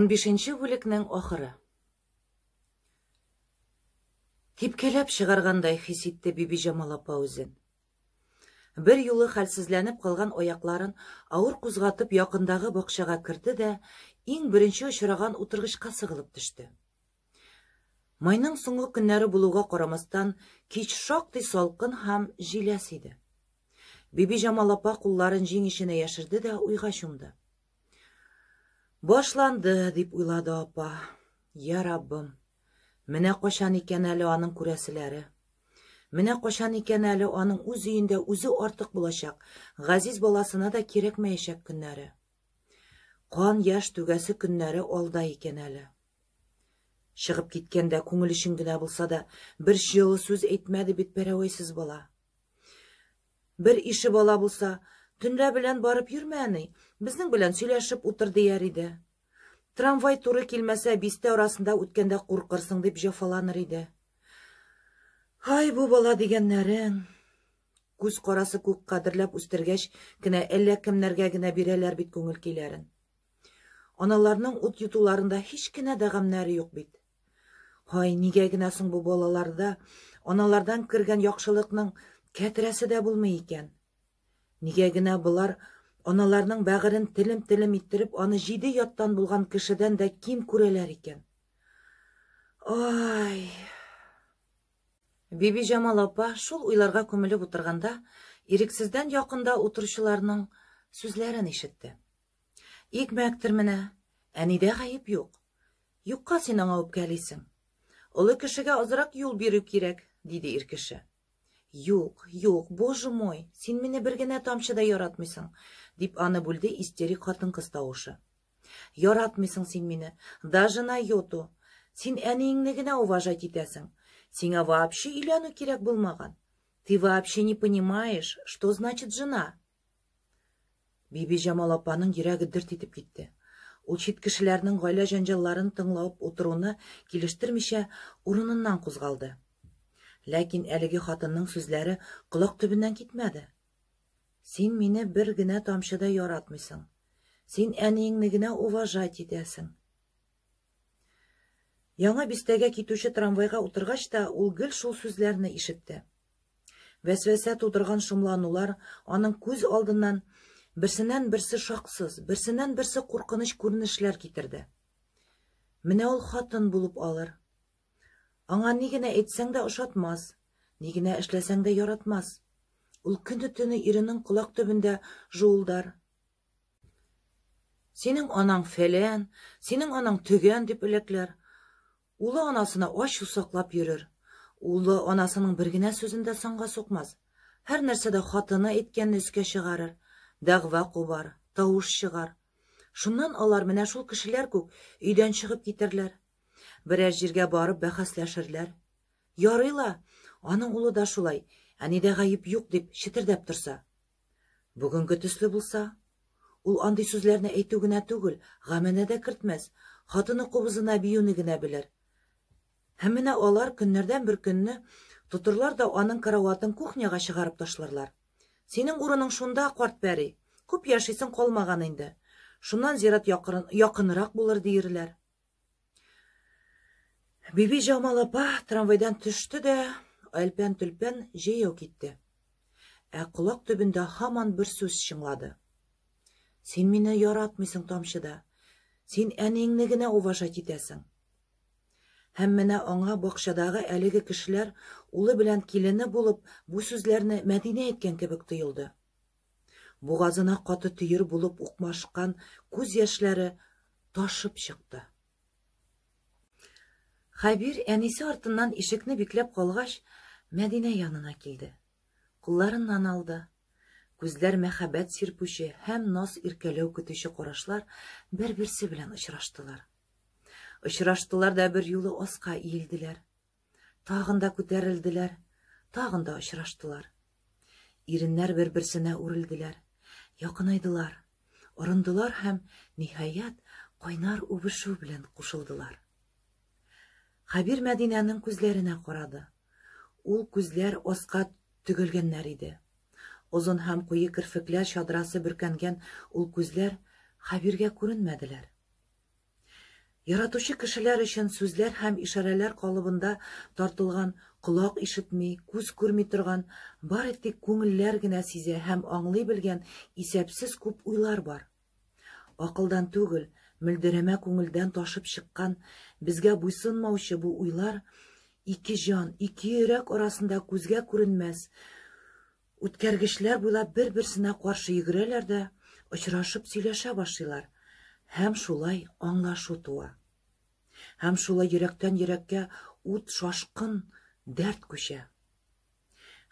Унбишенче бүлекнең ахыры. Типкәләп чыгаргандай хис итте Бибиҗамал апа үзен. Бер юлы хәлсезләнеп калган аякларын авыр кузгатып якындагы бакчага керде дә иң беренче очраган утыргычка сыгылып төште. Майның соңгы көннәре булуга карамастан, кич шактый салкын һәм җиләс иде. Бибиҗамал апа кулларын җиң эченә яшерде дә уйга чумды. Башланды, дип уйлады апа. Я Раббым, менә качан икән әле аның күрәселәре? Менә качан икән әле аның үз өендә үзе артык булачак, газиз баласына да кирәкмәячәк көннәре. Кан яшь түгәсе көннәре алда икән әле. Чыгып киткәндә күңел өчен генә булса да бер җылы сүз әйтмәде бит пәрәвәйсез бала. Бер ише бала булса, төнлә белән барып йөрмә, әни, безнең белән сөйләшеп утыр дияр иде. Трамвай туры килмәсә, бистә арасында үткәндә куркырсың дип җафаланыр иде. Һай, бу бала дигәннәрең. Күз карасы күк кадерләп үстергәч кенә әллә кемнәргә генә бирәләр бит күңел көйләрен. Аналарның ут йотуларында һич кенә дә гамнәре юк бит. Һай, нигә генә соң бу балаларда аналардан кергән яхшылыкның кәтрәсе дә булмый икән? Нигә генә болар аналарның бәгырен телем-телем иттереп, аны җиде яттан булган кешедән дә ким күрәләр икән? Ай! Бибиҗамал апа шул уйларга күмелеп утырганда, ирексездән якында утыручыларның сүзләрен ишетте. Икмәктер менә, әнидә гаеп юк. Юкка син аңа үпкәлисең. Олы кешегә азрак юл бирү кирәк, диде ир кеше. Юк, юк, боже мой, син мине бер генә тамчы да яратмыйсың, дип аны бүлде истерик хатын-кыз тавышы. Яратмыйсың син мине, даже на йоту. Син әниеңне генә уважать итәсең. Сиңа вообще өйләнү кирәк булмаган. Ты вообще не понимаешь, что значит жена, Бибиҗамал апаның йөрәге дөрт итеп китте. Ул чит кешеләрнең гаилә җәнҗалларын тыңлап утыруны килештермичә, урыныннан кузгалды. Ләкин әлеге хатынның сүзләре колак төбеннән китмәде. Син мине бер генә тамчы да яратмыйсың. Син әниеңне генә уважать итәсең. Яңа Бистәгә китүче трамвайга утыргач та ул гел шул сүзләрне ишетте. Вәсвәсә тудырган шомланулар аның күз алдыннан берсеннән-берсе шаксыз, берсеннән-берсе куркыныч күренешләр китерде. Менә ул хатын булып алыр. Аңа ни генә әйтсәң дә ошатмас, ни генә эшләсәң дә яратмас. Ул көне-төне иренең колак төбендә жуылдар, Синең анаң фәлән, синең анаң төгән, дип эләкләр. Улы анасына ачу саклап йөрер. Улы анасының бер генә сүзен дә санга сукмас. Һәр нәрсәдә хатыны әйткәнне өскә чыгарыр, дәгъва кубар, тавыш чыгар. Шуннан алар менә шул кешеләр күк өйдән чыгып китерләр. Берәр җиргә барып бәхәсләшерләр. Ярый ла, аның улы да шулай, әнидә гаеп юк, дип четердәп торса. Бүгенге төсле булса, ул андый сүзләрне әйтү генә түгел, гамәнә дә кертмәс, хатыны кубызына биюне генә белер. Һәм менә алар көннәрдән бер көнне тотырлар да аның караватын кухняга чыгарып ташларлар. Синең урының шунда, карт пәри, күп яшисең калмаган инде. Шуннан зират якын, якынрак булыр диерләр. Биби Җамал апа трамвайдан төште дә, әлпән-төлпән җәяү китте. Ә колак төбендә һаман бер сүз чыңлады. Син мине яратмыйсың, тамчы да. Син әниеңне генә уважать итәсең. Һәм менә аңа бакчадагы әлеге кешеләр улы белән килене булып бу сүзләрне Мәдинә әйткән кебек тоелды. Бугазына каты төер булып укмашкан күз яшьләре ташып чыкты. Хәбир әнисе артыннан ишекне бикләп калгач, Мәдинә янына килде. Кулларыннан алды. Күзләр мәхәббәт сирпүче һәм наз иркәләү көтүче карашлар бер-берсе белән очраштылар. Очраштылар да бер юлы аска иелделәр. Тагын да күтәрелделәр, тагын да очраштылар. Иреннәр бер-берсенә үрелделәр, якынайдылар, орындылар һәм, ниһаять, кайнар үбешү белән кушылдылар. Хәбир Мәдинәнең күзләренә карады. Ул күзләр аска төгәлгәннәр иде. Озын һәм куе керфекләр чадрасы бөркәнгән ул күзләр Хәбиргә күренмәделәр. Яратучы кешеләр өчен сүзләр һәм ишарәләр калыбында тартылган, колак ишетми, күз күрми торган, бары тик күңелләр генә сизә һәм аңлый белгән исәпсез күп уйлар бар. Акылдан түгел, мөлдерәмә күңелдән ташып чыккан, безгә буйсынмаучы бу уйлар ике җан, ике йөрәк арасында күзгә күренмәс Үткәргечләр буйлап бер-берсенә каршы йөгерәләр дә очрашып сөйләшә башлыйлар, һәм шулай аңлашу туа. Һәм шулай йөрәктән йөрәккә ут шашкын дәрт күчә.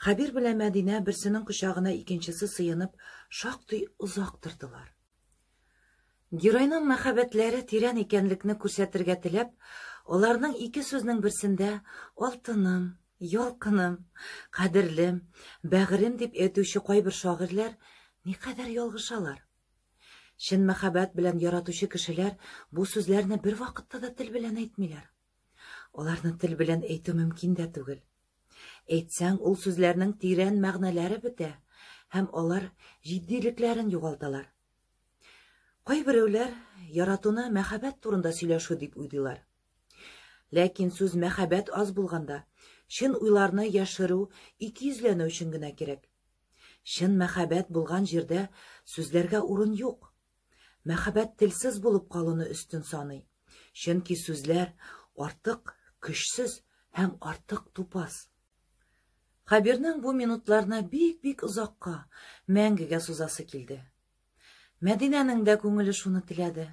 Хәбир белән Мәдинә берсенең кочагына икенчесе сыенып шактый озак тордылар. Геройның мәхәббәтләре тирән икәнлекне күрсәтергә теләп, аларның ике сүзнең берсендә алтыным, ялкыным, кадерлем, бәгырем дип әйтүче кайбер шагыйрьләр никадәр ялгышалар. Чын мәхәббәт белән яратучы кешеләр бу сүзләрне бервакытта да тел белән әйтмиләр. Аларны тел белән әйтү мөмкин дә түгел. Әйтсәң, ул сүзләрнең тирән мәгънәләре бетә һәм алар җитдилекләрен югалталар. Кайберәүләр яратуны мәхәббәт турында сөйләшү дип уйлыйлар. Ләкин сүз мәхәббәт аз булганда, чын уйларны яшерү икейөзләнү өчен генә кирәк. Чын мәхәббәт булган җирдә сүзләргә урын юк, Мәхәббәт телсез булып калуны өстен саный, чөнки сүзләр артык көчсез һәм артык тупас. Хәбирнең бу минутларны бик-бик озакка, мәңгегә сузасы килде. Мәдинәнең дә күңеле шуны теләде.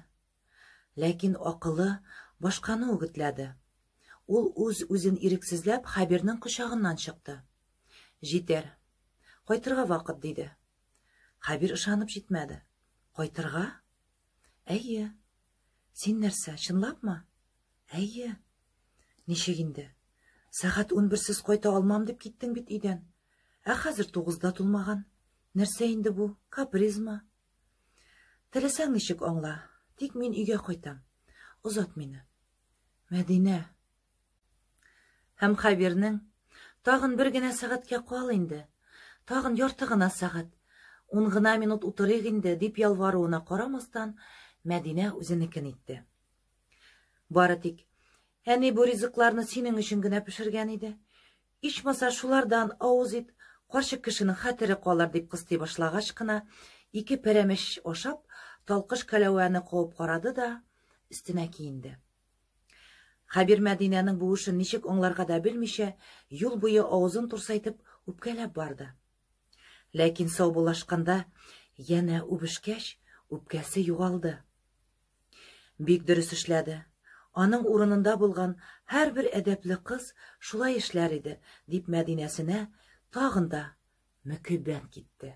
Ләкин акылы башканы үгетләде. Ул үз-үзен ирексезләп Хәбирнең кочагыннан чыкты. Җитәр. Кайтырга вакыт, диде. Хәбир ышанып җитмәде. Кайтырга? Әйе. Син нәрсә, чынлапмы? Әйе. Ничек инде? Сәгать унберсез кайта алмам дип киттең бит өйдән. Ә хәзер тугызда тулмаган. Нәрсә инде бу? Капризма? Теләсәң ничек аңла, тик мин өйгә кайтам. Озат мине. Мәдинә, Һәм Хәбирнең, Тагын бер генә сәгатькә кал инде. Тагын ярты гына сәгать. Ун гына минут утырыйк инде, дип ялваруына карамастан, Мәдинә үзенекен итте. Бары тик, әни бу ризыкларны синең өчен генә пешергән иде. Ичмаса шулардан авыз ит, карчык кешенең хәтере калыр, дип кыстый башлагач кына, ике пәрәмәч ашап, талкыш кәләвәне куып карады да, өстенә киенде. Хәбир Мәдинәнең бу эшен ничек аңларга да белмичә, юл буе авызын турсайтып, үпкәләп барды. Ләкин саубуллашканда янә үбешкәч, үпкәсе югалды. Бик дөрес эшләде. Аның урынында булган һәрбер әдәпле кыз шулай эшләр иде, дип Мәдинәсенә тагын да мөкиббән китте.